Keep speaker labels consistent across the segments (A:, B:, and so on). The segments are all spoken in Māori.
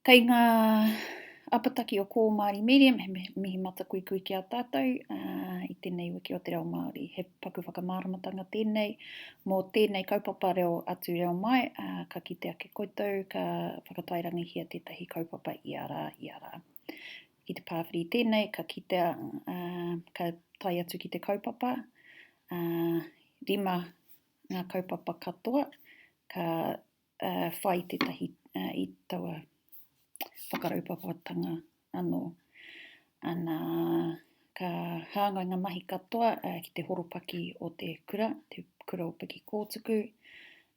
A: Kei ngā apataki o Kō Māori Medium, he mihi matakuikui ki a tātou i tēnei wiki o te reo Māori. He paku whakamāramatanga tēnei mō tēnei kaupapa reo atu reo mai, ka kite ake koutou ka whakatairangihia tētahi kaupapa ia rā, ia rā. I te pāwhiri tēnei ka kitea, ka tae atu ki te kaupapa, rima ngā kaupapa katoa, ka whai tētahi i taua whakaraupapatanga anō. Nā, ka hāngai ngā mahi katoa ki te horopaki o te kura, te kura o Pikikōtuku,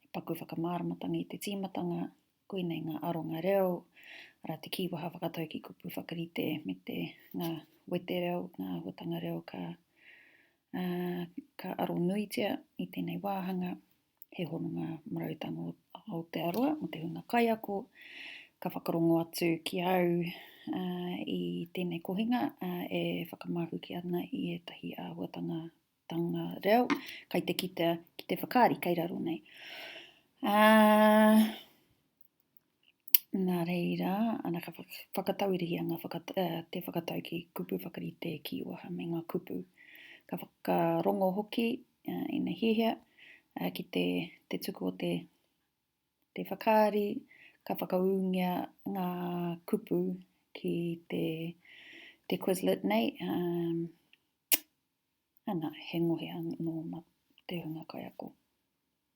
A: he paku whakamāramatanga i te tīmatanga, koinei ngā aronga reo, arā te kīwaha whakatau ki kupu whakarite me te ngā wetereo, ngā āhuatanga reo ka, uh, ka aro nuitia i tēnei wāhanga. he hononga marautanga o Aotearoa, mō te hunga kaiako, ka whakarongo atu ki au uh, i tēnei kohinga uh, e whakamahuki ana i ētahi āhuatanga tanga reo, kai te kitea ki te whakaari kai raro nei. Uh, Nā reira, ana ka whakatauirihia ngā whakata, uh, te whakatau ki kupu whakarite kīwaha me ngā kupu. Ka whakarongo hoki uh, ina hiahia uh, ki te, te tuku o te, te whakaari, ka whakaūngia ngā kupu ki te, te Quizlet nei. Um, ana, he ngohe anō mā te hunga kaiako.